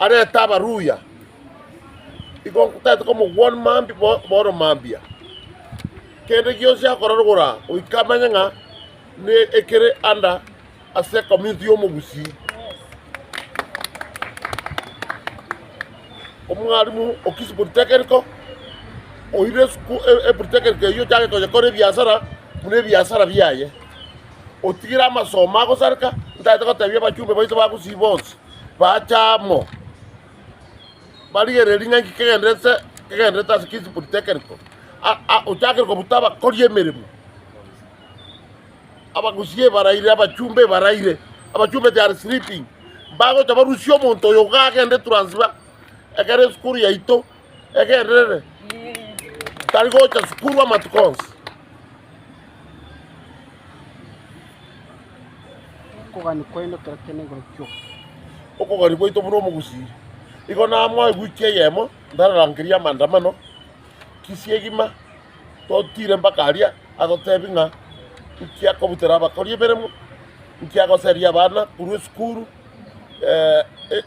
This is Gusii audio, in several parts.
arete abaruya, igo tari tokomogwani mambia bo- bono mambia. Kende gionsi akorarogora goika amenye ng'a ne ekere anda ase ecommunity y'Omogusii. Omwarimu okisi polytechnico, oire esuku- e- e polytechnico eyio ochake konyekora ebiasara buna ebiasara biaye. Otigire amasomo agosareka, ntaete gotebia abachumbe baito ba Gusii bonsi. Baacha amo, barigereria ring'anki kegenderere ase kegenderere ase Kisi Politekeniko, ochakire kobuta abakori emeremo, abagusii ebaraire, abachumba ebaraire, abachumba they are sleeping, mbagocha barusie omonto oyo iga agende Trans-Nzoia, ekero esukuru yaito. egenderere, tari gocha sukuru amatuko onsi. Okogania kwaino kera kende igoro kioka. Okogania gwaito buna omogusii. Igo namoe wiki eyemo ndararangeria amandamano, kisii egima totire mpaka aria agotebi ng'a nki akobutera abakori emeremo, nki agoseria abana korwa esukuru, eh, eh,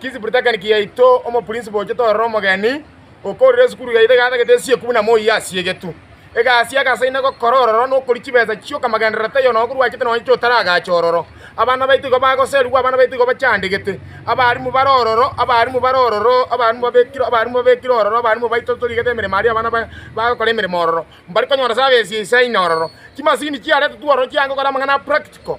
Kisipuritagani kiaito omopurinsipo ochete ororo omogeni, okourera esukuru yaito egatagete esieku buna moyio asiegetu. Egasi y'agasaini na gokora ororo na okoria chibesa chi'okamagenderero taiyo nonya korwachete nonya chi'otaragacha ororo. Abana baito igo bagoserigwe, abana baito igo bachandegete. Abarimu bare ororo, abarimu bare ororo, abarimu babekire, abarimu babekire ororo, abarimu baito torigete emeremo aria abana ba bagokora emeremo ororo, mbari konyora sabe esie isaine ororo. Chimasini chiaretetwe ororo chiaye gokora amang'ana a practical,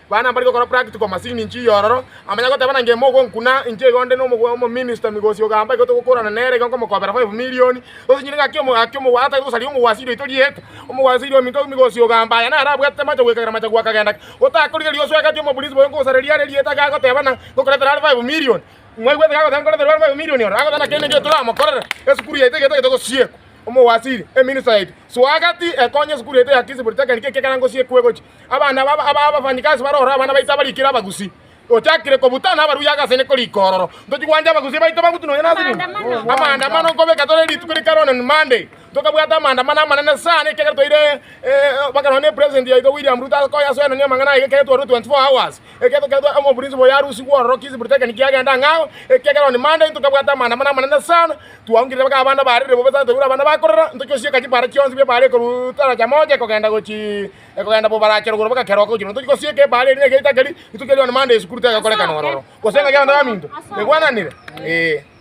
Buna mbare gokora practical masin inche iyororo, amanya goteba na ngemo ogonkuna inche iga onde nomominista migosi ogamba igo togokorana nere iga nkomokobera five millioni, gose nyire ng'aki ng'aki omogwasi atagete gosaria omogwasi riroito rieka, omogwasi riria ominto migosi ogamba aya nare abwatete amache goika ekero amache goaka agenda ki. Gotakori riria oswegeti omoprinsipal nkogosareria are rieta iga agoteba ng'a ngokoretera are five millioni, mwaigwete iga agoteba nkoreterwe are five millioni oro, agoteba naki niki toramokorere, esukuru yaito iga etagete gosiekwa. Omogwasiri, eminista yaito, swageti ekonye esukuru yaito ya Kisii Polytechnic ekio ekero ngosiekwa egochi, abana ba aba abafanyikasi bare ororo abana baito abarikire abagusi ochakire kobuta na abaruya agase ne korika ororo ntochi gwanja abagusi baito bagutu nonya nase nini Amaandamano. amaandamano nkobeka tore rituko rikare one on Monday tokabwata amaandamano amanene sana ekiagera toire eh, mpaka nonya ne president yaito William Ruto akoye asoenanie amang'ana aye ekiagera twarure 24 hours ekiagera toketwa omo principal yarusigwe ororo kisi britekeni kiagenda ang'e ao ekiagera on Monday ntokabwata amaandamano amanene sana twaungerire mpaka abana barire bobe sana twaigure abana bakorera ntochi gosieka chipara chionsi bia ebara ekoruu taraja moja ekogenda gochii. Ekogenda bo barachera ogoro bagakeroka gochia nonya tochia gosieka ebare eria na egeita keria, rituko erio Noa na Mande Yesu Kristo egakorekana ororo, gose ng'a kiagenda baminto, egwananire? Ee.